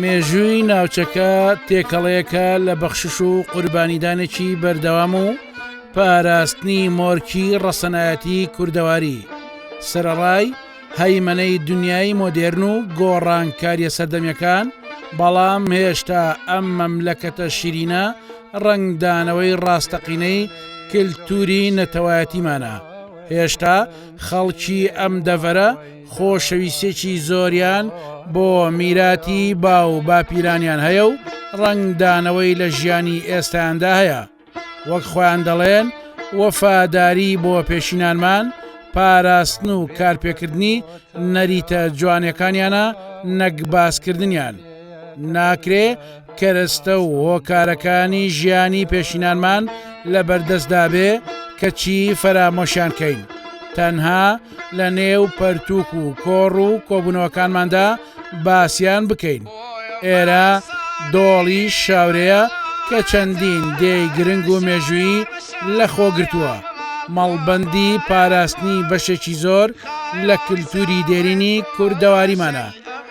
مێژووی ناوچەکە تێکەڵەیەکە لە بەخشش و قوربانیدانێکی بەردەوام و پاراستنی مۆرکی ڕەسەنایەتی کوردەواری سەرڕای هەیمەنەی دنیای مۆدێرن و گۆڕانکاریە سەردەمیەکان بەڵام هێشتا ئەم مەملەکەتە شیرینە ڕەنگدانەوەی ڕاستەقینەی کلتوری نەتەوایەتیمانە، هێشتا خەڵکی ئەم دەڤەرە خۆشەویستیەکی زۆریان بۆ میراتی باو باپیرانیان هەیە و ڕەنگدانەوەی لە ژیانی ئێستایاندا هەیە، وەک خۆیان دەڵێن وەفاداری بۆ پێشینانمان پاراستن و کارپێکردنی نەریتە جوانێکانیانە نەک باسکردنیان. ناکرێ کەرەستە و هۆکارەکانی ژیانی پێشینانمان لە بەردەستدا بێ کەچی فەرامۆشیان کەین. تەنها لە نێو پەرتوک و کۆڕ و کۆبوونەوەکانماندا باسیان بکەین. ئێرە دۆڵی شاورەیە کە چەندین دێی گرنگ و مێژووی لە خۆگرتووە. مەڵبەندی پاراستنی بەشێکی زۆر لە کللتوری دێرینی کوردەواریمانە.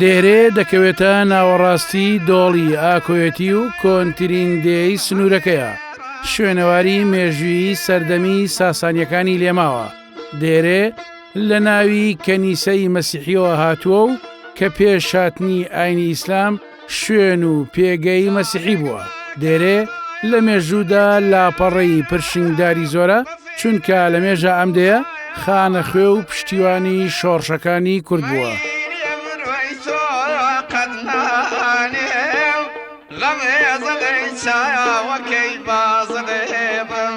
دێرێ دەکەوێتە ناوەڕاستی دۆڵی ئاکۆێتی و کۆنترین دێی سنوورەکەیە شوێنەواری مێژویی سەردەمی ساسانیەکانی لێماوە دێرێ لە ناوی کەنیسەی مەسیحیەوە هاتووە و کە پێشاتنی ئاینی ئیسلام شوێن و پێگەی مەسیحی بووە دێرێ لە مێژوودا لاپەڕەی پرشنگداری زۆرە چونکە لە مێژە ئەم دەیە خانە خوێ و پشتیوانی شۆڕشەکانی کورد بووە. غەمێ زەڵی چاوەکەی بازڵێ بم.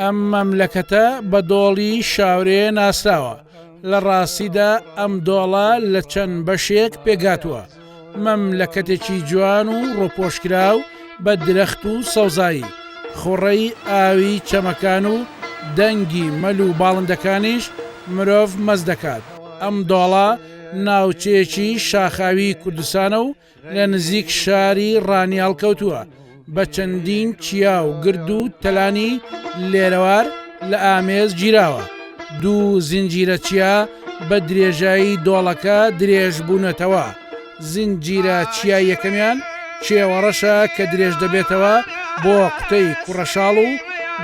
ئەم مەملەکەتە بە دۆڵی شاورێ ناسراوە لە ڕاستیدا ئەم دۆڵە لە چەند بەشێک پێگاتووە مەملەکەتێکی جوان و ڕۆپۆشکرا و بە درەخت و سەوزایی خوڕەی ئاوی چەمەکان و دەنگی مەل و باڵندەکانیش مرۆڤ مەز دەکات ئەم دۆڵە ناوچەیەکی شاخاوی کوردستانە و لە نزیک شاری ڕانیاڵ کەوتووە بە چەندین چیا و گرد و تەلانی لێرەوار لە ئامێز گیراوە دوو زنجیرە چیا بە درێژایی دۆڵەکە درێژ بوونەتەوە زنجیرە چیا یەکەمیان چێوەڕەشە کە درێژ دەبێتەوە بۆ قوتەی کوڕەشاڵ و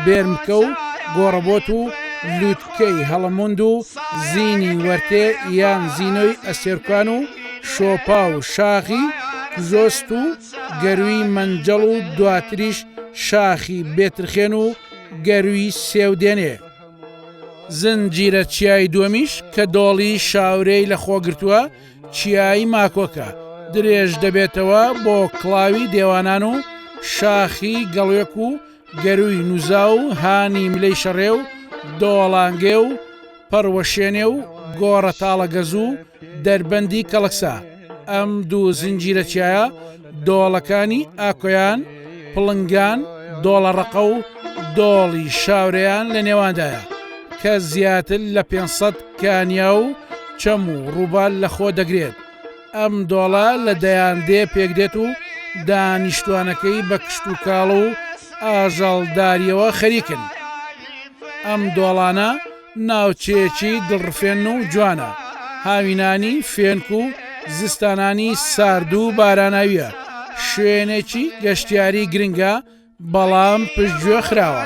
بێرمکە و گۆڕەبۆت و لووتکەی هەڵەموند و زینی وەرتێ یان زینۆی ئەستێرکان و شۆپا و شاخی گزۆست و گەرووی مەنجەڵ و دواتریش شاخی بێترخێن و گەرووی سێو دێنێ. زنجیرە چیای دووەمیش کە دۆڵی شاورێی لە خۆ گرتووە، چیای ماکۆکە، درێژ دەبێتەوە بۆ کڵاوی دێوانان و شاخی گەڵوێک و گەرووی نوزا و هانی ملێی شەڕێ و دۆڵانگێ و پەڕوەشێنێ و گۆڕە تاڵەگەز و دەربەندی کەڵەکسا، ئەم دوو زنجیرە چیایە دۆڵەکانی ئاکۆیان، پڵنگان، دۆڵەڕەقە و دۆڵی شاورێیان لە نێواندایە، کە زیاتر لە پێنج سەد کانیا و چەم و ڕووبار لەخۆ دەگرێت. ئەم دۆڵە لە دەیان دێ پێکدێت و دانیشتوانەکەی بە کشتوکاڵ و ئاژەڵداریەوە خەریکن. ئەم دۆڵانە ناوچەیەکی دڵڕفێن و جوانە، هاوینانی فێنک و زستانانی سارد و باراناویە، شوێنێکی گەشتیاری گرنگە، بەڵام پشتگوێ خراوە.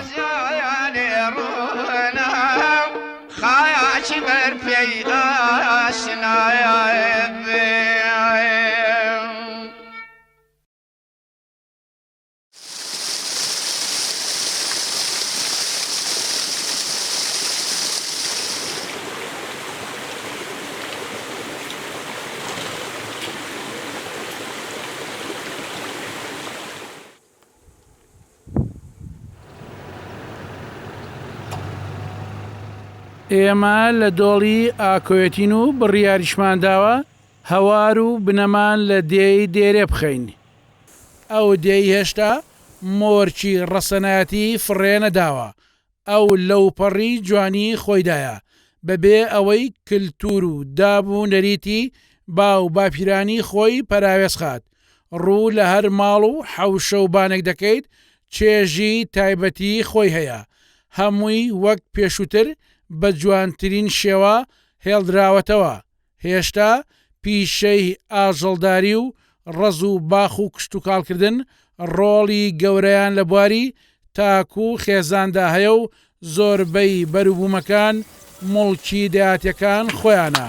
خاچی بەر پێیداشنایە. ئێمە لە دۆڵی ئاکۆێتین و بڕیاریشمان داوە هەوار و بنەمان لە دێی دێرێ بخەین. ئەو دێی هێشتا مۆرکی ڕەسەنایەتی فڕێ نەداوە، ئەو لەوپەڕی جوانی خۆیدایە، بەبێ ئەوەی کلتور و داب و نەریتی باو و باپیرانی خۆی پەراوێز خات، ڕوو لە هەر ماڵ و حەوشە و بانێک دەکەیت چێژی تایبەتی خۆی هەیە، هەمووی وەک پێشووتر بە جوانترین شێوە هێڵدراوەتەوە، هێشتا پیشەی ئاژەڵداری و ڕەز و باخ و کشتوکاڵکردن ڕۆڵی گەورەیان لە بواری تاک و خێزاندا هەیە و زۆربەی بەروبوومەکان موڵکی دەیاتییەکان خۆیانە.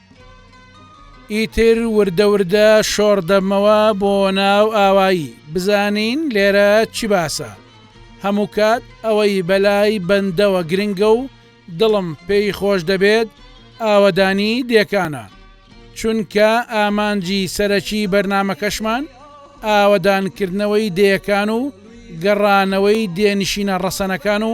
ئیتر وردە وردە شۆڕ دەبمەوە بۆ ناو ئاوایی بزانین لێرە چی باسە. هەموو کات ئەوەی بەلای بەندەوە گرنگە و دڵم پێی خۆش دەبێت ئاوەدانی دێکانە. چونکە ئامانجی سەرەکی بەرنامەکەشمان ئاوەدانکردنەوەی دێیەکان و گەڕانەوەی دێنشینە ڕەسەنەکان و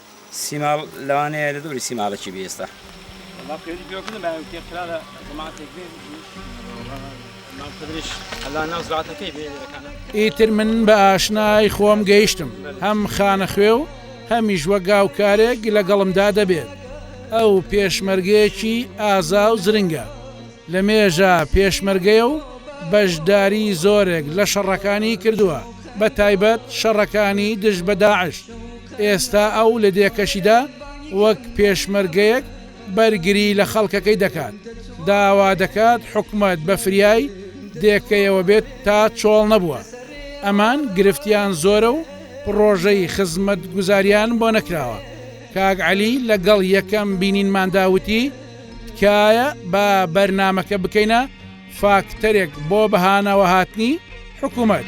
سیماڵ لەوانەیە لە دەوری سیماڵێکی بێ ئێستا. والله فێری پێوە کردم بەیان وتێ قرا لە جەماعەتێک بێ وتیش مام خدریش ئەلا ناو زاتەکەی بێ لەکانە ئیتر من بە ئاشنای خۆم گەیشتم هەم خانەخوێ و هەمیش وەک گاوکارێک لەگەڵمدا دەبێت ئەو پێشمەرگەیەکی ئازا و زرنگە. لە مێژە پێشمەرگەیە و بەشداری زۆرێک لە شەڕەکانی کردووە بە تایبەت شەڕەکانی دژ بە داعش، ئێستا ئەو لە دێکەشیدا وەک پێشمەرگەیەک بەرگری لە خەڵکەکەی دەکات، داوا دەکات حکومەت بە فریای دێکەیەوە بێت تا چۆڵ نەبووە ئەمان گرفتیان زۆرە و پڕۆژەی خزمەتگوزاریان بۆ نەکراوە، کاک عەلی لەگەڵ یەکەم بینینماندا وتی، تکایە با بەرنامەکە بکەینە فاکتەرێک بۆ بەهانەوە هاتنی حکوومەت.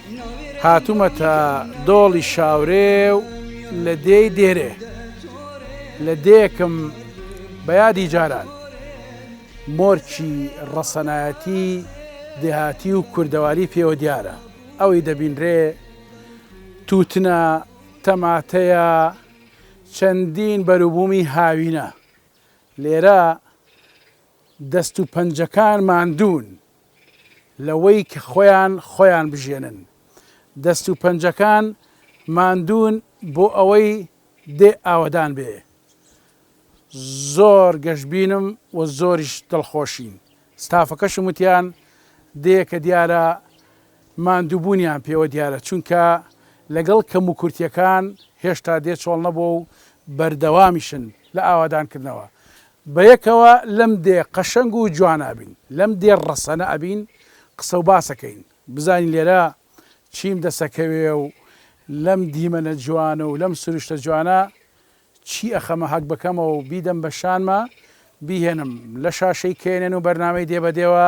هاتوومەتە دۆڵی شاورێ و لە دێی دێرێ لە دێکم بە یادی جاران مۆرکی ڕەسەنایەتی دێهاتی و کوردەواری پێوە دیارە ئەوەی دەبینرێ تووتنە تەماتەیە چەندین بەروبوومی هاوینە لێرە دەست و پەنجەکان ماندوون لەوەی کە خۆیان خۆیان بژێنن. دەست و پەنجەکان ماندوون بۆ ئەوەی دێ ئاوەدان بێ. زۆر گەشبینم و زۆریش دڵخۆشین. ستافەکەشم وتیان دێ کە دیارە ماندووبوونیان پێوە دیارە چونکە لەگەڵ کەموکورتیەکان هێشتا دێ چۆڵ نەبووە و بەردەوامیشن لە ئاوادانکردنەوە. بەیەکەوە لەم دێ قەشەنگ و جوانە ئەبین لەم دێ ڕەسەنە ئەبین قسە و باس ئەکەین بزانین لێرە چیم دەس ئەکەوێ و لەم دیمەنە جوانە و لەم سروشتە جوانە چی ئەخەمە هەک بکەمەوە و بیدەم بە شانما بیهێنم لە شاشەی knn و بەرنامەی دێ بە دێوە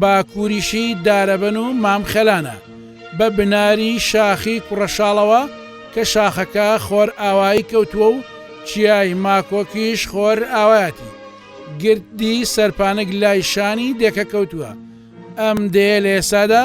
باکووریشی دارەبەن و مام خێلانە، بە بناری شاخی کوڕەشاڵەوە کە شاخەکە خۆرئاوایی کەوتووە و چیای ماکۆکیش خۆرئاوایەتی گردی سەرپانک لای شانی دێکە کەوتووە، ئەم دێیە لە ئێستادا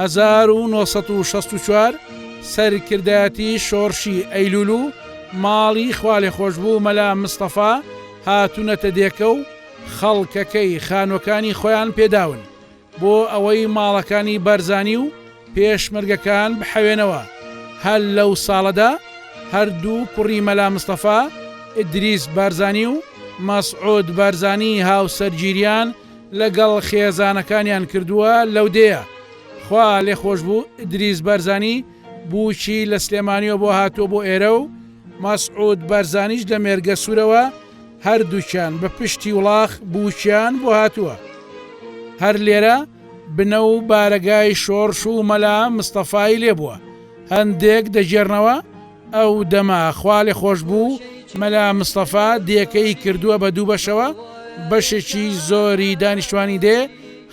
هەزار و نۆ سەد و شەست و چوار سەرکردایەتی شۆڕشی ئەیلول و ماڵی خوالێخۆشبوو مەلا مستەفا هاتوونەتە دێکە و خەڵکەکەی خانووەکانی خۆیان پێداون بۆ ئەوەی ماڵەکانی بارزانی و پێشمەرگەکان بحەوێنەوە هەر لەو ساڵەدا هەردوو کوڕی مەلا مستەفا ئیدریس بارزانی و مەسعود بارزانی هاوسەرگیریان لەگەڵ خێزانەکانیان کردووە لەو دێیە. خوا لێ خۆش بوو ئیدریس بارزانی بووکی لە سلێمانیەوە بۆ هاتووە بۆ ئێرە و مەسعود بارزانیش لە مێرگەسورەوە هەردووکیان بە پشتی وڵاخ بووکیان بۆ هاتووە هەر لێرە بنە و بارەگای شۆڕش و مەلا مستەفای لێ بووە هەندێک دەگێرنەوە ئەو دەمە خوا لێ خۆش بوو مەلا مستەفا دێکەی کردووە بە دوو بەشەوە بەشێکی زۆری دانیشتوانی دێ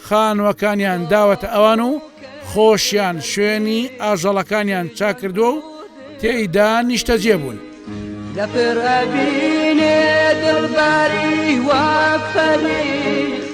خانووەکانیان داوەتە ئەوان و خۆشیان شوێنی ئاژەڵەکانیان چاکردووە و تێیدا نیشتەجێ بوون. لە پڕ ئەبینێ دڵباری وەک فەریق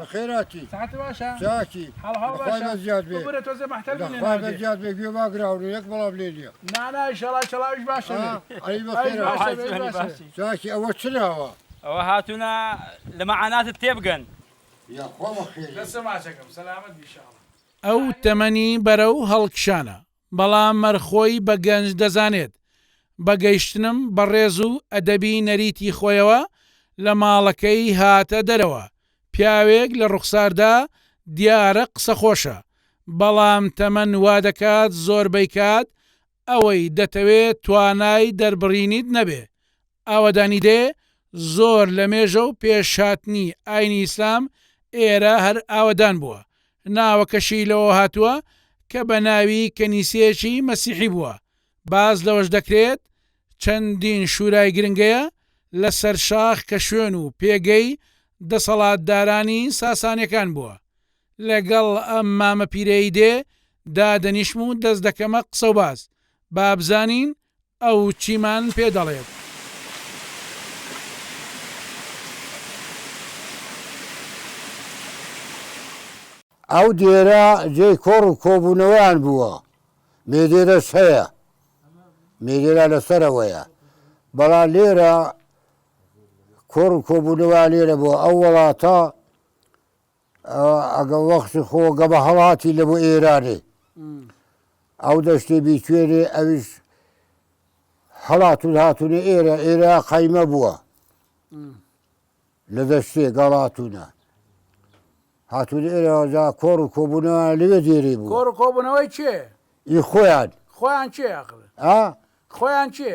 بەخێراکی چاکی بەخوای بە زیاد بێ بەخوای بە زیاد بێ گوێ ماگراون یەک بەڵام لێ نییە چاکی ئەوە چ ناوە؟ ئەوە هاتوونە لە مەعاناتت تێبگەن. یاخوا بەخێرێ. ئەو تەمەنی بەرەو هەڵکشانە. بەڵام مەر خۆی بە گەنج دەزانێت. بە گەیشتنم بە ڕێز و ئەدەبی نەریتی خۆیەوە لە ماڵەکەی هاتە دەرەوە. پیاوێک لە ڕوخساردا دیارە قسەخۆشە، بەڵام تەمەن وا دەکات زۆربەی کات ئەوەی دەتەوێ توانای دەربڕینیت نەبێ، ئاوەدانی دێ زۆر لە مێژە و پێش هاتنی ئاینی ئیسلام ئێرە هەر ئاوەدان بووە ناوەکەشی لەوەوە هاتووە کە بە ناوی کەنیسەیەکی مەسیحی بووە باس لەوەش دەکرێت چەندین شورای گرنگەیە لە سەر شاخ کە شوێن و پێگەی دەسەڵاتدارانی ساسانیەکان بووە لەگەڵ ئەم مامە پیرەی دێ دادەنیشم و دەست دەکەمە قسەوباس بابزانین ئەو چیمان پێ دەڵێت؟ ئەو دێرە جێی کۆڕ و کۆبوونەوەیان بووە، مێدێرەش هەیە، مێدێرە لە سەرەوەیە، بەڵام لێرە کۆڕ و کۆبوونەوەیان لێرە بووە، ئەو وڵاتە، ئەگەر وەختی خۆ گە بە هەڵاتی لە بۆ ئێرانێ ئەو دەشتێ بیتوێنێ ئەویش هەڵاتون هاتوونە ئێرە ئێرە قەیمە بووە لە دەشتێ گەڵاتونە هاتوونە ئێرەجا کۆڕ و کۆبوونەوە لەوێ دێری بوو کۆڕ کۆبوونەوەی چێ ئی خۆیان خۆیان چێ ئەخر خۆیان چێ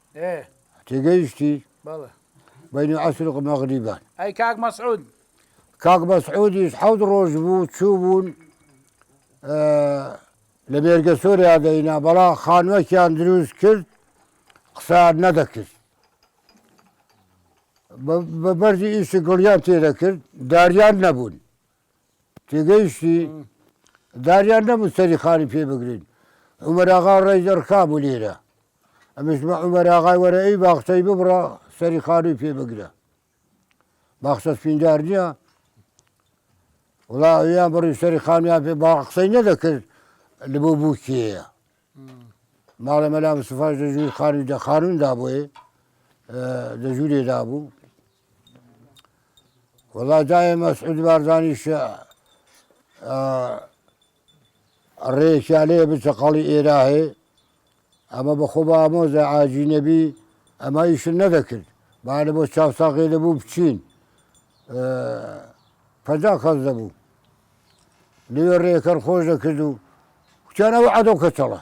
تێگەیشتی؟ بەڵێ. بەینی عەسر و مەغریبان. ئەی کاک مەسعود؟ کاک مەسعودیش حەوت ڕۆژ بوو چوو بوون لە مێرگە سۆریا دەینا بەڵا خانوەکیان دروست کرد قسان نەدەکرد بە بەرزی ئیشی گڵیان تێدەکرد داریان نەبوون تێگەیشتی داریان نەبوو سەری خانی پێ بگرین عمەراغا ڕێی دەڕکا بوو لێرە ئەمش بە عومەر ئاغای وەرە ئەی باخچەی ببڕە سەری خانووی پێ بگرە باخچە سپیندار نییە وڵا ئەویان بڕی سەری خانویان پێ با قسەی نەدەکرد لە بۆ بووکیەیە ماڵە مەلا مسفاش لە ژووری خانووی دە خانووندا بۆێ لە ژوورێدا بوو وڵا دایە مەسعود بارزانیش ئەڕێ کیالێ بچە قەڵی ئێراهێ ئەمە بە خۆ با ئامۆزا ئاجی نەبی ئەمە ئیشن نەدەکرد با لە بۆ چاو ساقێ دەبوو بچین پەنجا کەس دەبوو لێوێ ڕێکەر خۆش دەکرد و کوتیان ئەو عەدۆ کەچەڵە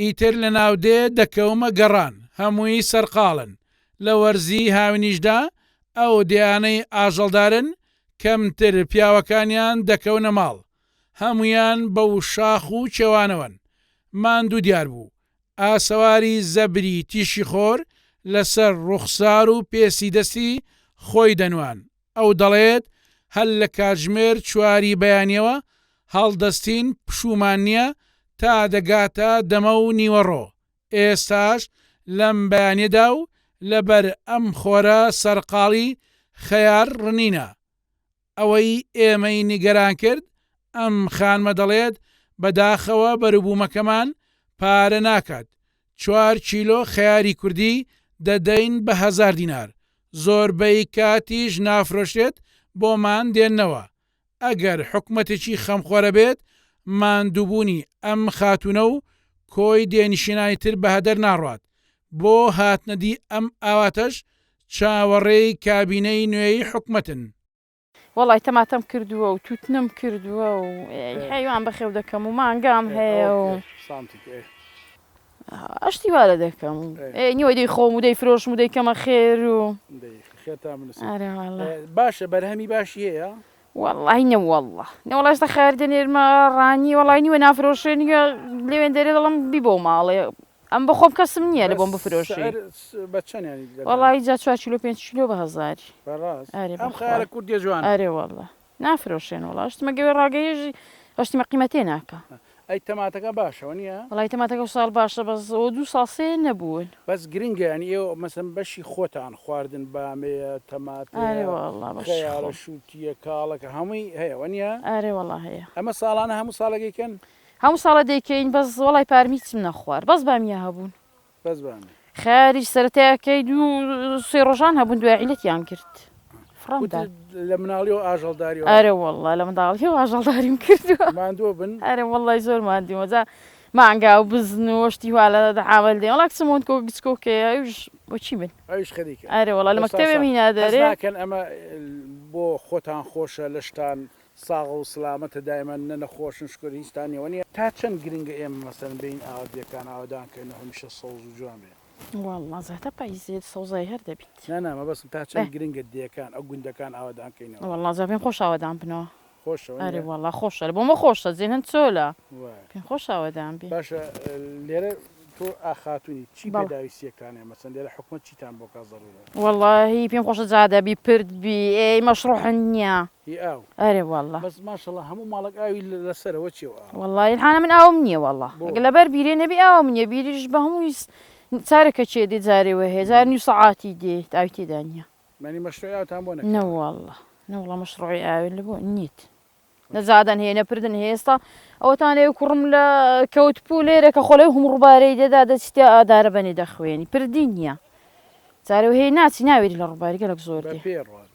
ئیتر لە ناودێ دەکەومە گەڕان، هەمووی سەرقاڵن، لە وەرزی هاوینیشدا ئەو دێیانەی ئاژەڵدارن کەمتر پیاوەکانیان دەکەونە ماڵ، هەموویان بەو شاخ و کێوانەوەن، ماندوو دیار بوو، ئاسەواری زەبری تیشیخۆر لەسەر ڕووخسار و پێستی دەستی خۆی دەنواند. ئەو دەڵێت، هەر لە کاتژمێر چوار ی بەیانیەوە هەڵدەستین، پشوومان نییە تا دەگاتە دەمە و نیوەڕۆ، ئێستاش لەم بەیانیەدا و لەبەر ئەم خۆرە سەرقاڵی خەیار ڕنینە. ئەوەی ئێمەی نیگەران کرد، ئەم خانمە دەڵێت، بەداخەوە بەروبوومەکەمان پارە ناکات، چوار کیلۆ خەیاری کوردی دەدەین بە هەزار دینار، زۆربەی کاتیش نافرۆشرێت بۆمان دێننەوە، ئەگەر حکومەتێکی خەمخۆرە بێت ماندووبوونی ئەم خاتوونە و کۆی دێنشینانی تر بەهەدەر ناڕوات، بۆ هاتنەدی ئەم ئاواتەش چاوەڕێی کابینەی نوێی حکومەتن. وەڵای تەماتەم کردووە و تووتنم کردووە و ئێ حەیوان بەخێو دەکەم و مانگام هەیە و ئاشتی وا لە دەکەم و ئێ نیوەی دەیخۆم و دەیفرۆشم و دەیکەمە خێر و ئارە وەڵا باشە بەرهەمی باشی هەیە؟ وەڵای نەوەڵا نەوەڵا ئێستا خەیار دەنێرمە ڕانی وەڵای نیوە نافرۆشێ نیوە لەوێندەرێ دەڵێم بیبەوە ماڵێ ئەم بە خۆم کەسم نییە لە بۆم بفرۆشی وەڵا ئیجا چوار کیلۆ پێنج کیلۆ بە هەزاری ئەرێ وەڵا نافرۆشێن وڵا شتمە گەوێ ڕاگەیژی هەشتمە قیمەتێ ناکە ئەی تەماتەکە باشەوە نیە وڵی تەماتەکە و ساڵ باشە بەس ئەو دوو ساسێ نەبوون بەس گرنگە ینی ئێوە مەسم بەشی خۆتان خواردن بامەیە تەمات شووتە کاڵەکە هەمووی هەیەوە نیە ئارێ وڵا هەیە ئەمە ساڵانە هەموو ساڵەکەیکەن هەموو ساڵە دەیکەین بەس وەڵای پارم هیچم نەخوارد بەس بامیە هەبوون. بەس بامیە. خەیاریش سەرەتای ئەکەی دوو سێ ڕۆژان هەبوون دوای عیلەتیان کرد. فڕم دا. وتت لە مناڵیەوە ئاژەڵداری وە. ئەرێ وەڵا لە منداڵیەوە ئاژەڵداریم کردووە. ماندوو بن. ئەرێ وەڵای زۆر ماندوومە جا مانگا و بزن و شتی وا لە عامل دێن وەڵا کچم وت گچکۆکەیە ئەویش وە چی بن. ئەویش خەریکە. ئەرێ وەڵا لە مەکتەبێم هینا دەرێ. حەز ناکەن ئەمە بۆ خۆتان خۆشە لەشتان ساغە و سلامەتە دایمە نە نەخۆشن شکر هیچ تان نیە وەنیە. تا چەند گرنگە ئێمە مەسەلەن بێین ئاوات بێکان ئاوەدان کەین و هەمیشە سەوز و جوان بێ. وەڵڵا زەهتە پاییزێ سەوزایی هەر دەبیت. نا نا مەبەستم تا چەند گرنگە دێکان ئەو گوندەکان ئاوەدان کەینەوە. وەڵڵا جا پێم خۆشە ئاوەدان بنەوە. خۆشە وەنیە. ئەرێ وەڵڵا خۆشە بۆ مە خۆشە جێ هەند چۆلە. وایە. پێم خۆشە ئاوەدان بین. باشە لێرە تۆ ئا خاتونی چی بەڵێ. پێداویستیە کانە مەسەلەن لێرە حکومەت چیتان بۆ کا زەرورە. وەڵڵاهی پێم خۆشە جادە بی پرد بی ئێ مەشڕوو حنیە. هی ئاو. ئەرێ واللە. بەس ماشەڵا هەموو ماڵەک ئاوی لەسەرە وە چیە و ئاوە. واللە ئیلحانە من ئاوم نیە واللە بۆ. لە بەر بیرێ نەبی ئاوم نیە بیریش بە هەمووی چارە کە چێ دێ جارێ وە هەیە جار نیو سەعاتی دێیت ئاوی تێدا نیە. یانی مەشروعی ئاوتان بۆ نەکراوە. نە واللە نە واللە مەشروعی ئاوێ لە بۆ نیت نە جادەن هەیە نە پردن هەیە ئێستا ئەوەتان لێ کوڕم لە کەوت پوو لێرە کە خۆلێ هەموو ڕووبارەی دێدا دەچیتە ئادارە بەنێ دەخوێنی پردی نیە جارێ وە هەیە ناچی ناوێری لە ڕووباری گەلەک زۆر دێ. بە پێی ڕوات.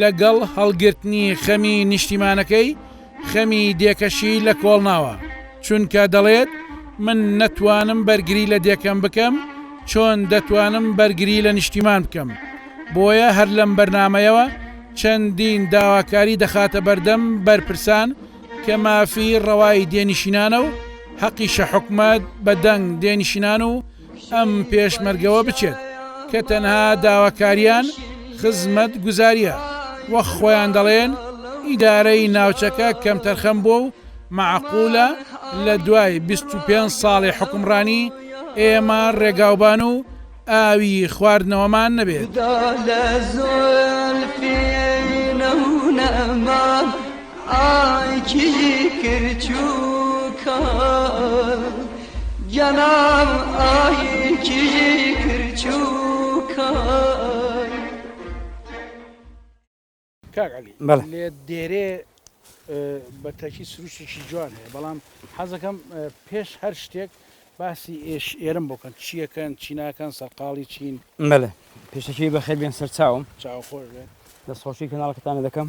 لەگەڵ هەڵگرتنی خەمی نیشتیمانەکەی، خەمی دێکەشی لە کۆڵ ناوە، چونکە دەڵێت، من نەتوانم بەرگری لە دێکەم بکەم، چۆن دەتوانم بەرگری لە نیشتیمان بکەم؟ بۆیە هەر لەم بەرنامەیەوە چەندین داواکاری دەخاتە بەردەم بەرپرسان کە مافی ڕەوای دێنشینانە و هەقیشە حکومەت بە دەنگ دێنشینان و ئەم پێشمەرگەوە بچێت کە تەنها داواکاریان خزمەت گوزاریە وەخ خۆیان دەڵێن ئیدارەی ناوچەکە کەمتەرخەم بۆ و معقولە لە دوای 25 ساڵی حکمڕانی ئێمە ڕێگاوبان و ئاوی خواردنەوەمان نەبێت. کاک علی لێت دێرێ بە تاکی سروشتێکی جوان هەیە بەڵام حەزەکەم پێش هەر شتێک باسی ئێش ئێرم بکەن چیەکەن چی ناکەن سەرقاڵی چین مەلە پێشەکی بەخێبیان سەرچاوم چاوخۆش بێت دەستخۆشی کەناڵەکەتانە دەکەم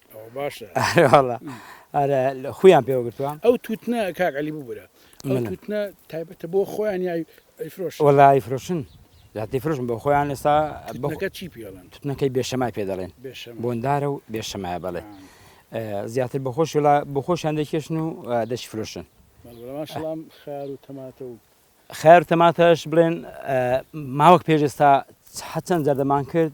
ئەوە باشە ئەرێواڵە ئەرە خویان پێوە گرتووە ئەو تووتنە کاک علی ببورە ئەو تووتنە تایبەتە بۆ خۆیان یای ئەیفرۆش وەڵی فرۆشن زیاتری فرۆشن بۆ خۆیان ئێستا بەکە چی پێڵن توتنەکەی بێشەمای پێ دەڵێن بۆندارە و بێشەمایە بەڵێ زیاتر بە خۆش وڵا بە خۆشیان دەکێشن و دەشی فرۆشن خار و تەماتە و خار تەماتەش بڵێن ماوەک پێشێستا حەچەند زەردەمان کرد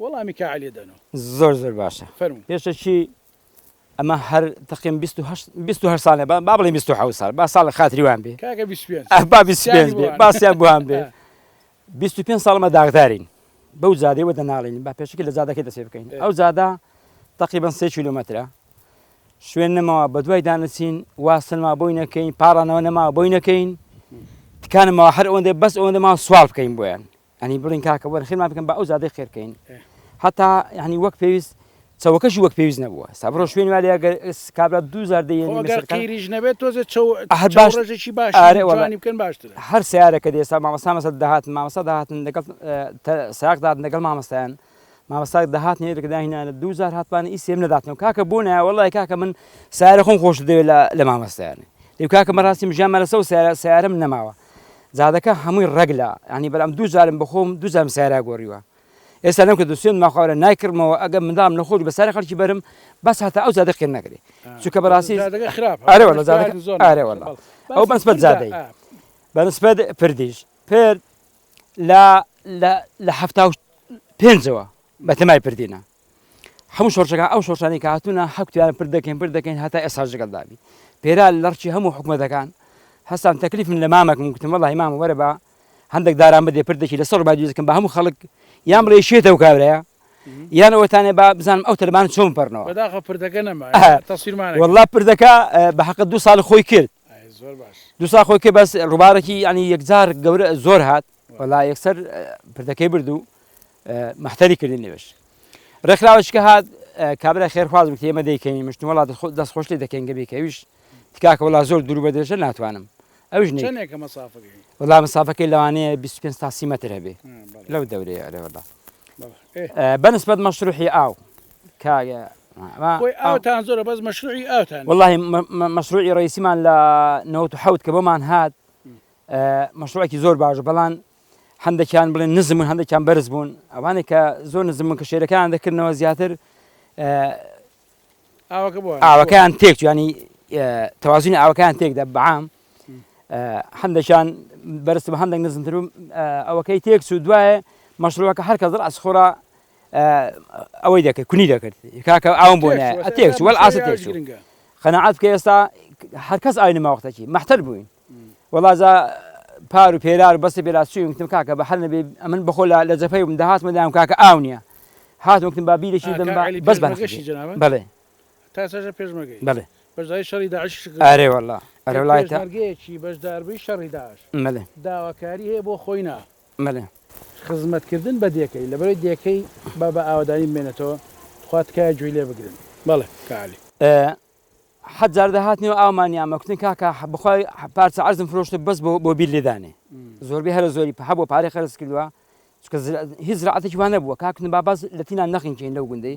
وەڵامی کا عەلی دەنۆ. زۆر زۆر باشە فەرموو. پێشە چی ئەمە هەر تەقیم بیست و هەشت بیست و هەشت سالە با با بڵێین بیست و حەوت سال با سالە خاتری وان بێ کاکە بیست و پێنج ئەه با بیست و سیانی پێنج بۆ بێ هەن با سیان بۆ هان بێ ئە بیست و پێنج سال ئەمە داغدارین بەو جادەی وە دەناڵین با پێشەکی لە جادەکەی دەسێ بکەین ئەه ئەو جادە تەقیبەن سێ کیلۆمەترە شوێن نەماوە بە دوای دانەچین وا سەلما بۆی نەکەین پاڕانەوە نەماوە بۆی نەکەین تکانمەوە هەر ئەوەندە بەس ئەوەندە ما سوال بکەین بۆیان یانی بڵێن کاکە وەرە خێرمان بکەن بە ئەو زادەی خێر بکەین هەتا یعنی وەک پێویست چەوەکەشی وەک پێویست نەبووە ستا بڕۆ شوێن وایە گەر کابرا دوزار دەیریش نەبێت تۆزە هەر باشڕێژێکی باش ئارێوانی بکەن باشتر هەر سیارەکە دێستا مامەسامەسە داهاتن مامەسا داهاتن لەگەڵ ساقدات لەگەڵ مامەستایان مامەستا دەهات نێ دەکە داهینانە دوو جار هاتپانە ئی سێم نەداتنەوە کاکە بۆ نایە وەڵای کاکە من سارە خۆم خۆش دەوێت لە مامەستایانە دەو کاکە مەڕاستی مژیان مەرەسە و سارە سارم نەماوە زادەکە هەمووی ڕەگ لە ینی بەلام دوو جارم بخۆم دوو جارم سارا گۆڕیوە ئێستا نەم کە دوسێن ماخوارە نایکردمەوە ئەگەم مندام نەخۆش بە سارە خەڵکی بەرم بەس هەتا ئەو زادە خێن نەکرێ چونکە بەڕاستی ئەو بەسبەت زادەی بەنسبەت پردیش پرد لە لە لە حەفتا و پێنجەوە بە تەمای پردینە هەموو شۆرشەکە ئەو شۆرشانی کە هاتوونە حەکتیان پر دەکەین پر دەکەین هەتا ئێستا جگەل دابی پێرا لەڕچی هەموو حکوومەتەکان هەستان تەکلیف من لە مامەکم گوتم وڵ هیمام وەرە بە هەندێک داران بدێ پر دەکی لەسەر بای دەکەم بە هەموو خەڵک یان بڵێ شێتە و کابراە یان ئەوەتانێ با بزانم ئەو تەلبان چۆن پەرنەوە بەداخە پردەکە نەما تەسیرمانە وڵا پردەکە بە حەقە دو ساڵ خۆی کرد دوسا خۆی کە بەس ڕووبارەکی ینی یەکجار گەورە زۆر هات وەلا یەکسەر پردەکەی برد و محتەری کردن نوێش ڕێکخراوەشکە هات کابرا خێرخوازم کە ئێمە دەیکەین مشت وڵات دەست خۆشی دەکەین گەبێک ئەویش تکاکە وڵا زۆر دوور بە درێژە ناتوانم ئەوش وڵا مسافەکەی لەوانەیە 25 تاسی مەتر هەبێ لەو دەورەیە ئەرەوەدا بەنسبەت مەشروحی ئاو کاگە ما بۆی ئاو تان زۆرە بەس مەشروعی ئاو تان واللهی مەشروعی ڕئیسیمان لە نەوەت و حەوت کە بۆمان هات مەشروعێکی زۆر باش بەڵان هەندێکیان بڵێن نزم من هەندێکیان بەرز بوون ئەوانێ کە زۆر نزم من کە شێرەکان دەکردنەوە زیاتر ئاوەکەیان تێک ینی تەوازنی ئاوەکان تێکدا بەعام هەندێکیان بەرز بە هەندێک نزمتر ئەوەکەی تێک و دوایە مەشروعەکە هەر کە زڕ ئەسخۆرا ئەوەی دەکرد کونی دەکرد کاکە ئاوم بۆ نایە ئەتێکچ وەل ئاست تێکچ قەنەعات کە ئێستا هەرکەس ئاوی نەماوەختەکی مەحتەل بووین وەڵازا پار و پێرار بەستی پێراسچوونکتم کاکە بە هەر نەبێ ئەمن بەخۆ لە لە جەفەی من داهاتمە دام کاکە ئاو نییە هاتوەکتم با بیرێکی دەم بەس بەشی بڵێ تاسەژە پێشمەگەی بڵێ بەزای شەڕی داعش ئارێ وەڵا ئەرەلایتەگەیەکی بەشداربووی شەڕی داعش مەلێ داواکاری هەیە بۆ خۆینا بەلێ. خزمەت کردن بە دێکەی لەبەرەی دێکەی با بە ئاوەدانی بمێنێتەوە تخوا تکایە گوی لێ بگرن بەڵێ کاک علی. حەد جار دەهاتنی و ئاومان نیامە کوتن کاکە بەخوا پارچە عەرزم فرۆشتە بەس بۆ بۆ بیل لێدانێ زۆربەی هەرە زۆری پە هەبوو پارەی خەرج کردوە چونکە هیچ زرعەتێکی وا نەبووە کاک کوتن با بەس لەتینا نەخنکێین لەو گوندەی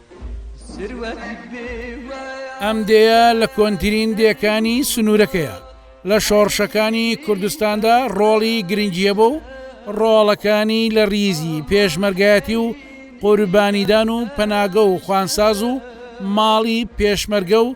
ئەم دێیە لە کۆنترین دێکانی سنوورەکەیە لە شۆڕشەکانی کوردستاندا ڕۆڵی گرنگیە بۆ و ڕۆڵەکانی لە ریزی پێشمەرگایەتی و قوربانیدان و پەناگە و خوانساز و ماڵی پێشمەرگە و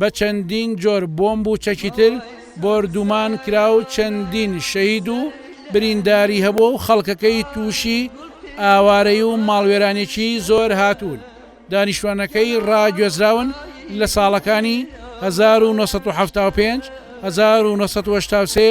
بە چەندین جۆر بۆمب و چەکی تر بۆردومان کرا و چەندین شەهید و برینداری هەبووە و خەڵکەکەی تووشی ئاوارەیی و ماڵوێرانێکی زۆر هاتوون. دانیشتوانەکەی ڕاگوێزراون لە ساڵەکانی هەزار و نۆ سەد و حەفتا و پێنج، هەزار و نۆ سەد و هەشتا و سێ،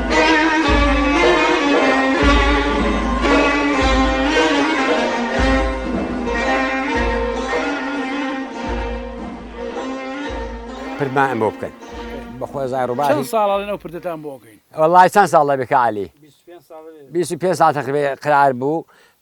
پردمان بۆ بکەن بەخۆ زای ڕووبار چەند ساڵە لەنەو پردتان بۆ بکەین وەڵای چەند ساڵە بێکە علی 25 ساڵە تقریبا قرار بوو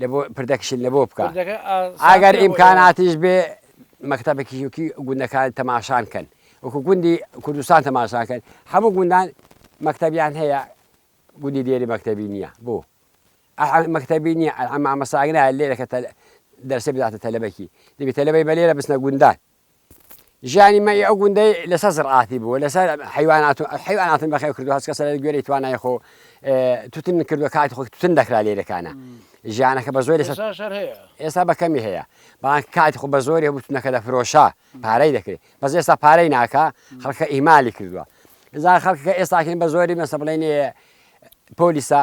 لەبۆ پردەکشن لەبۆ بکە ئاگەر ئیمکاناتیش بێ مەکتتەبەکیژوکی گوندەکان تەماشان کەن وەکو گوندی کوردستان تەماشان کەن هەموو گوندان مەکتتەبیان هەیە گوندی دێری مەکتتەبی نییە بۆ مەکتتەبی نییە ئەمامەساگنا لێرەکە دەرسێ بداتە تەلەبەکی دەبێت تەلەبەی بە لێرە بچنە گوندان ژیانی مەی ئەو گوندەی لەسەر زڕعاتی بوو لەسەر حیوانات و حیواناتن بەخێو کردو هەست کەسە لە گوێرەی توانای خۆ توتن کردو کاتی خۆی توتن دەکرا لێرەکانە ژیانەکە بە زۆری ئێستا بە کەمی هەیە بەڵام کاتی خۆ بە زۆری بوتنەکە لە فرۆشە پارەی دەکرێت بەس ئێستا پارەی ناکە خەڵکە ئیمالی کردووە زار خەڵکەکە ئێستاکەین بە زۆری مەسە بڵێن پۆلیسە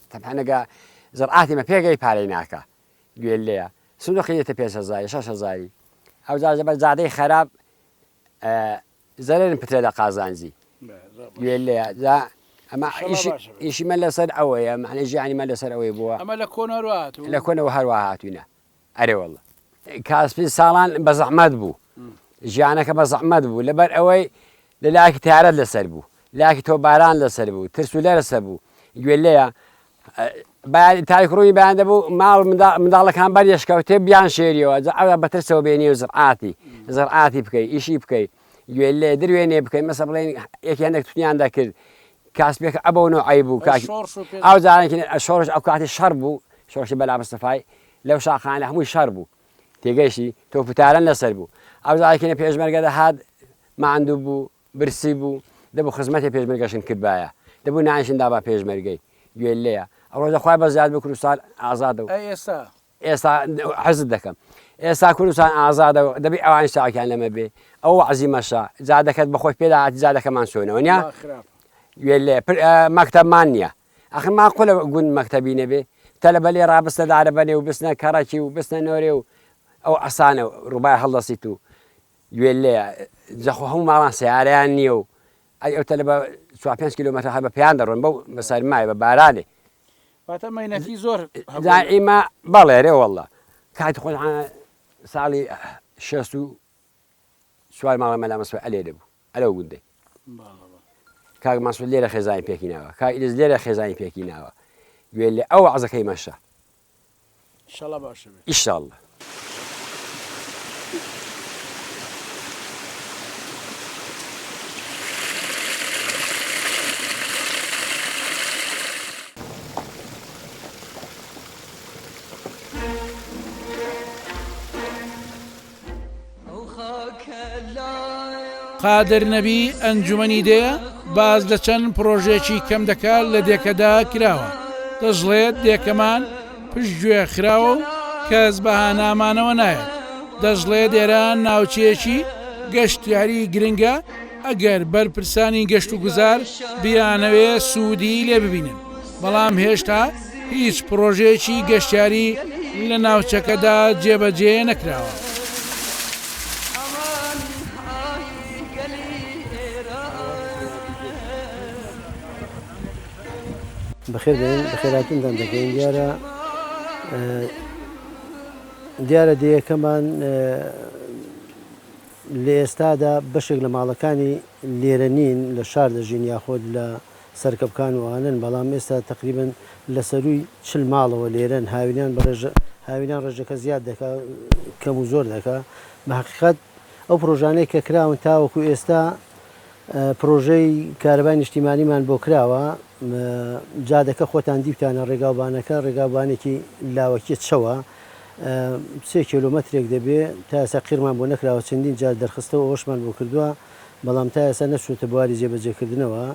تەبعەن ئەگا زڕعاتی مە پێگەی پارەی ناکا گوێ لێە سندوقی دێتە پێنج هەزاری شەش هەزاری ئەوجا زەبەر زادەی خەراب زەرێن پترێ لە قازانجی گوێ لێە جا ئەمە ئیشی مە لەسەر ئەوەیە معنی ژیانی مە لەسەر ئەوەی بووە ئەمە لە کۆنەوە لە کۆنەوە هەروە هاتوینە ئەرێ واللە کاسپی ساڵان بە زەحمەت بوو ژیانەکە بە زەحمەت بوو لەبەر ئەوەی لە لاکی تارەت لەسەر بوو لاکی تۆ باران لەسەر بوو ترس و لەرسە بوو گوێ لەیە تاریک ڕووی بەیان دەبوو ماڵ منداڵەکان بەر یشکەوتێ بیان شێریەوە ئەوە بەترسەوە بێنی و زڕعاتی زڕعاتی بکەی ئیشی بکەی گوێ لێ دروێنێ بکەی مەسە بڵێن یەکیانێک تویان دەکرد کاسبێک ئەبەو نەوەی بوو کاش ئەو زانێکی شۆڕش ئەو کاتی شەڕ بوو شۆڕشی بەلا مستەفای لەو شاخانە هەمووی شەڕ بوو تێگەیشتی تۆ پتارن لەسەر بوو ئەو زایکینە پێشمەرگە دەهات ماندوو بوو برسی بوو دەبوو خزمەتی پێشمەرگەشن کردبایە دەبوو نانشن دابا پێشمەرگەی گوێ لەیە ئەوڕۆ دەخوای بە زیاد بۆ کوردستان ئازادە و ئێستا ئێستا حەزت دەکەم ئێستا کوردستان ئازادە دەبی ئەوان شاکیان لەمە بێ ئەو عزی مەشە جادەکەت بەخۆش پێداات جادەکەمان سۆنەوە نیا مەکتەبمان نییە ئاخر ماقولە گوند مەکتەبی نەبێ تەلەبە لێ ڕابستە دارەبەنێ و بچنە کەڕەکی و بچنە نۆرێ و ئەو عەسانە ڕوبای هەڵدەسیت و گوێ لێیە جا خۆ هەموو ماڵان سەیارەیان نییە و ئەی ئەو تەلەبە چوار پێنج کیلۆمەتر هەر بە پێیان دەڕۆن بەو بە سەرمایە بە بارانێ واتە مەینەتی زۆر هەبوو. جا ئیمە بەڵێ رێ وەڵڵا کاتی خۆشان ساڵی شەست و سوار ماڵە مەلا مەسوود ئەلێ دەبوو ئەلەو گوندەی کاک مەسوود لێرە خێزانی پێکی ناوە کاک ئیدز لێرە خێزانی پێکی ناوە گوێ لێ ئەو عزەکەی مەشە شڵە باشە ئیشاڵە قادر نەبی، ئەنجومەنی دێ باس لە چەند پڕۆژێکی کەم دەکات لە دێکەدا کراوە، دەشڵێت دێکەمان پشتگوێ خراوە و کەس بە هانامانەوە نایەت، دەشڵێت ئێران ناوچەیەکی گەشتیاری گرنگە، ئەگەر بەرپرسانی گەشتوگوزار بیانەوێ سوودی لێ ببینن، بەڵام هێشتا هیچ پڕۆژەیەکی گەشتیاری لە ناوچەکەدا جێبەجێ نەکراوە. بەخێربێن، بەخێرهاتنتان دەکەین، دیارە دیارە دێیەکەمان لە ئێستادا بەشێک لە ماڵەکانی لێرە نین، لە شار دەژین یاخۆد لە سەرکەپکان و ئانەن، بەڵام ئێستا تەقریبەن لە سەرووی چل ماڵەوە لێرەن، هاوینان بە ڕێژە هاوینان ڕێژەکە زیاد دەکا کەم و زۆر دەکا، بە هەقیقەت ئەو پڕۆژانەی کە کراون تاوەکوو ئێستا پڕۆژەی کارەبای نیشتیمانیمان بۆ کراوە، جادەکە خۆتان دیوتانە ڕێگاوبانەکە ڕێگاوبانێکی لاوەکییە چەوە، سێ کێلۆمەترێک دەبێ، تا ئێستا قیڕمان بۆ نەکراوە، چەندین جار دەرخستە و ئەوەشمان بۆ کردووە، بەڵام تا ئێستا نەچووەتە بواری جێبەجێکردنەوە.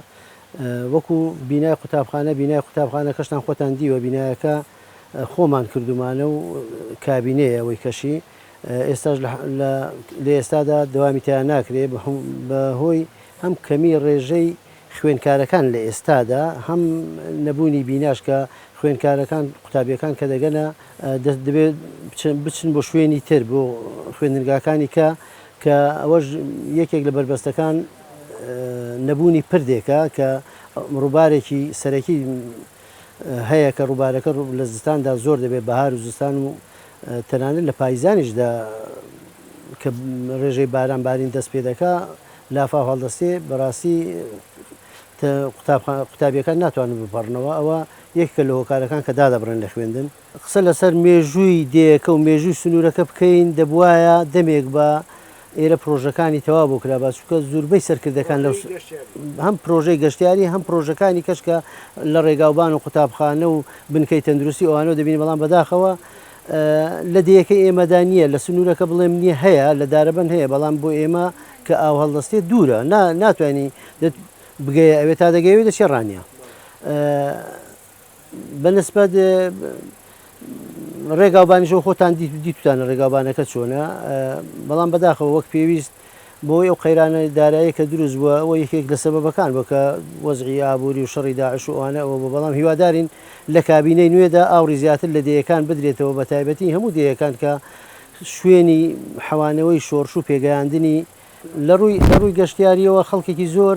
وەکو بینای قوتابخانە، بینای قوتابخانەکەشتان خۆتان دیوە، بینایەکە خۆمان کردوومانە و کابینەیە ئەوەی کەشی، ئێستاش لە لە ئێستادا دەوامی تیا ناکرێ، بە هۆی هەم کەمیی ڕێژەی خوێندکارەکان لە ئێستادا هەم نەبوونی بیناش کە خوێندکارەکان قوتابیەکان کە دەگەنە دەست دەبێت بچن بۆ شوێنی تر بۆ خوێندنگاکانی کە کە ئەوەش یەکێک لە بەربەستەکان نەبوونی پردێکە کە ڕووبارێکی سەرەکی هەیە کە ڕووبارەکە لە زستاندا زۆر دەبێت بەهار و زستان و تەنانەت لە پایزانیشدا کە ڕێژەی باران بارین دەست پێ دەکا لافاو هەڵدەستێ بەراستی تە قوتابخانە قوتابیەکان ناتوانن بپەڕنەوە ئەوە یەکێکە لە هۆکارەکان کە دادەبڕێن لە خوێندن. قسە لەسەر مێژووی دێیەکە و مێژووی سنوورەکە بکەین دەبوایە دەمێک با ئێرە پڕۆژەکانی تەواو بۆ کرابا چونکە زوربەی سەرکردەکان لەو هەم پرۆژەی گەشتیاری هەم پرۆژەکانی کەشکە لە ڕێگاوبان و قوتابخانە و بنکەی تەندروستی ئەوانەوە دەبینی بەڵام بەداخەوە لە دێیەکەی ئێمەدا نییە، لە سنوورەکە بڵێم نییە، هەیە، لە دارەبەن هەیە، بەڵام بۆ ئێمە کە ئاو هەڵدەستێت دوورە، نا، ناتوانی دەت بگەیە ئەوێ، تا دەگەی ئەوێ دەچێ ڕانیە. بە نسبەت ڕێگاوبانیشەوە خۆتان دیت، دیتوتانە ڕێگاوبانەکە چۆنە، بەڵام بەداخەوە وەک پێویست، بەهۆی ئەو قەیرانە داراییە کە دروست بووە ئەوە یەکێک لە سەبەبەکان بووە کە وەزعی ئابووری و شەڕی داعش و ئەوانە ئەوە بووە بەڵام هیوادارین لە کابینەی نوێدا ئاوڕی زیاتر لە دێیەکان بدرێتەوە بەتایبەتی هەموو دێیەکان کە شوێنی حەوانەوەی شۆڕش و پێگەیاندنی لە ڕووی گەشتیارییەوە خەڵکێکی زۆر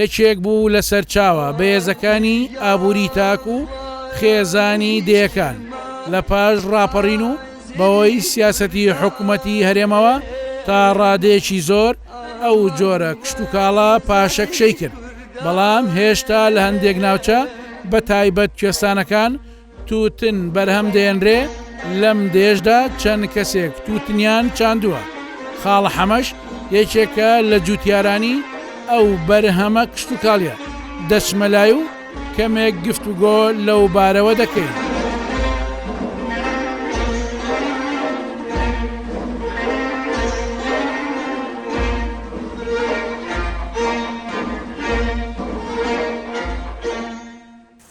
یەکێک بوو لە سەرچاوە بەهێزەکانی ئابووری تاک و خێزانی دێیەکان لە پاش ڕاپەڕین و بەهۆی سیاسەتی حکومەتی هەرێمەوە تا ڕادەیەکی زۆر ئەو جۆرە کشتوکاڵە پاشەکشەی کرد بەڵام هێشتا لە هەندێک ناوچە بەتایبەت کوێستانەکان تووتن بەرهەم دێنرێ، لەم دێژدا چەند کەسێک تووتنیان چاندووە، خاڵە حەمەش یەکێکە لە جووتیارانی ئەو بەرهەمە کشتوکاڵیە، دەچمە لای و کەمێک گفتوگۆ لەو بارەوە دەکەین.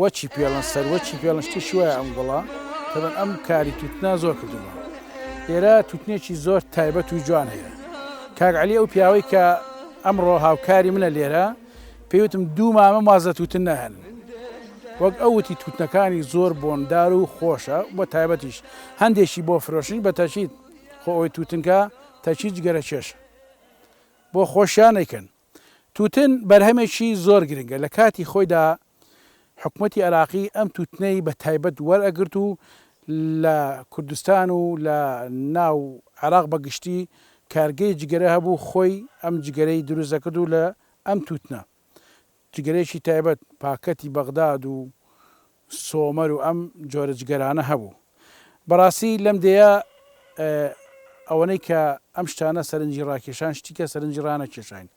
وەچی پێڵن سەر وەچی پێڵن شتێکی وایە ئەم گوڵە تەبەن ئەم کاری توتنا زۆر کردووە ئێرە توتنێکی زۆر تایبەت و جوان هەیە کاک علی ئەو پیاوەی کە ئەمڕۆ هاوکاری منە لێرە پێوتم دوو مامە مازە توتن نەهێن وەک ئەوتی توتنەکانی زۆر بۆندار و خۆشە بۆ تایبەتیش هەندێکی بۆ فرۆشنی بە تەچیت خۆ ئەوی توتنکە تەچیت گەرە کێشە بۆ خۆشیان نەکەن توتن بەرهەمێکی زۆر گرنگە، لە کاتی خۆیدا حکومەتی عێراقی ئەم توتنەی بە تایبەت وەرئەگرت و لە کوردستان و لە ناو عێراق بە گشتی کارگەی جگەرە هەبوو خۆی ئەم جگەرەی دروست دەکرد و لە ئەم توتنە جگەرەیەکی تایبەت پاکەتی بەغداد و سۆمەر و ئەم جۆرە جگەرانە هەبوو. بەڕاستی لەم دێیە ئەوەنەی کە ئەم شتانە سەرنجی ڕاکێشان شتیکە سەرنجی ڕانەکێشاین.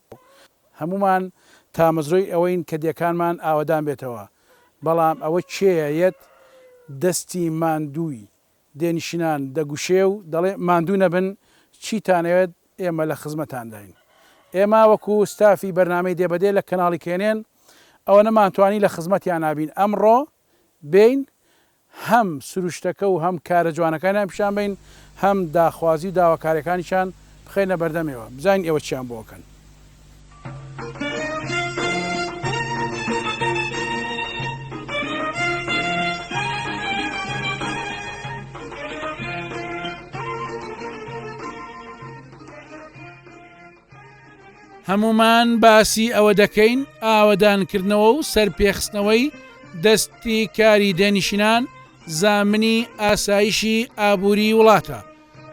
هەموومان تامەزرۆی ئەوەین کە دێکانمان ئاوەدان بێتەوە، بەڵام ئەوە کێیە یەت دەستی ماندووی دێنشینان دەگوشێ و دەڵێ ماندوو نەبن، چیتانەوێت ئێمە لە خزمەتانداین. ئێمە وەکو ستافی بەرنامەی دێ بە دێ لە کەناڵی کێنێن ئەوە نەمانتوانی لە خزمەتیانا بین، ئەمڕۆ بێین هەم سروشتەکە و هەم کارە جوانەکانیان پیشان بەین، هەم داخوازی و داواکاریەکانیشان بخەینە بەردەمێوە، بزانین ئێوە چیان بۆ ئەکەن. هەمومان باسی ئەوە دەکەین ئاوەدانکردنەوە و سەرپێخستنەوەی دەستی کاری دێنشینان زامنی ئاسایشی ئابووری وڵاتە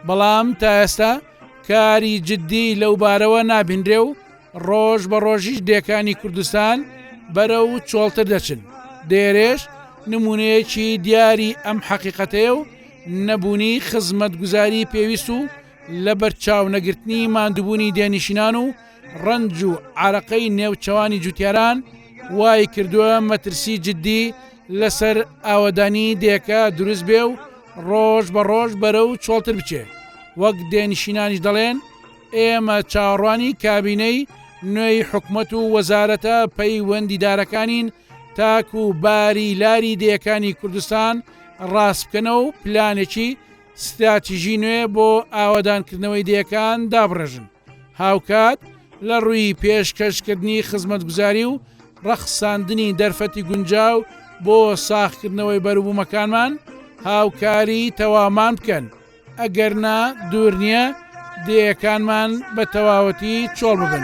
بەڵام تا ئێستا کاری جددی لەوبارەوە نابینرێ و ڕۆژ بە ڕۆژیش دێکانی کوردستان بەرە و چۆڵتر دەچن دێرێش نمونەیەکی دیاری ئەم حەقیقەتەیە و نەبوونی خزمەتگوزاری پێویست و لە بەرچاونەگرتنی ماندوبوونی دێنشینان و ڕەنج و عارەقەی نێوچەوانی جوتیاران وای کردووە مەترسی جددی لەسەر ئاوەدانی دێکە دروست بێ و ڕۆژ بە ڕۆژ بەرە و چۆڵتر بچێ وەک دێنشینانیش دەڵێن ئێمە چاڕوانی کابینەی نوێی حکومت و وەزارەتە پەیوەندیدارەکانین تاکو و باری لاری دەیەکانی کوردستان ڕاستکەنە و پلانێکی ستراتیژی نوێ بۆ ئاوادانکردنەوەی دەیەکان دابڕێژن هاوکات لە ڕووی پێشکەشکردنی خزمەتگوزاری و ڕەخساندنی دەرفەتی گونجاو بۆ ساغکردنەوەی بەروبوومەکانمان هاوکاری تەواومان بکەن، ئەگەرنا دوور نییە دێیەکانمان بە تەواوەتی چۆڵ ببن.